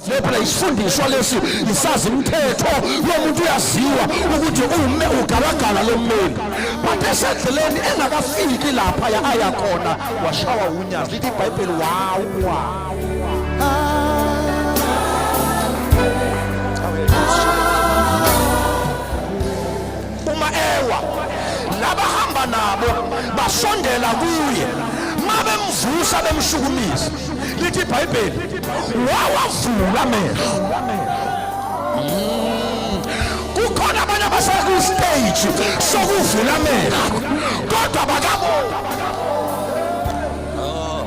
Phela isifundiswa lesi isazi mthetho lomuntu uyaziwa ukuthi ume ugalagala lommeli but esedleleni engakafiki lapha ya aya khona washawa unyazi lithi ibhayibheli wawa uma ewa labahamba nabo basondela kuye mabemvusa bemshukumisa lithi ibhayibheli wawavula amehlo mm. kukhona abanye abasekustage sokuvula amehlo kodwa bakabona oh.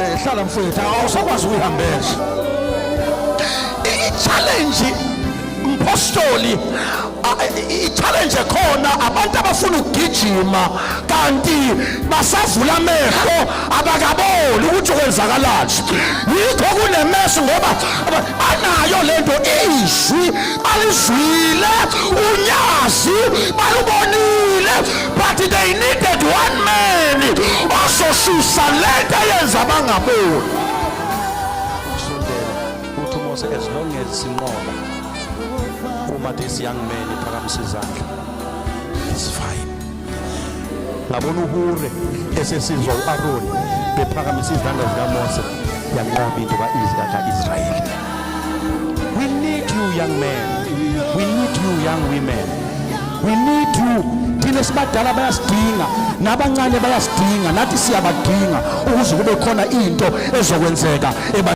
eh, hlala mfowethu awusakwazi ukuyihambela i-challenge Mphostoli i-challenge khona abantu abafuna ukugijima kanti basavula amehlo abakaboni ukuthi kwenzakalani yikho kunemeso ngoba banayo lento izwi alizwile unyazi balubonile but they needed one man ozosusa lento eyenza bangaboni Lutho Mose as long as sinqoba uma this young man iphakamisa izandla it's fine ngabona uhure esesizwa u-aron bephakamisa izandla zikamose yanqoba into ka-israyeli we need you young man we need you young women we need you thina sibadala bayasidinga nabancane bayasidinga nathi siyabadinga ukuze kube khona into ezokwenzeka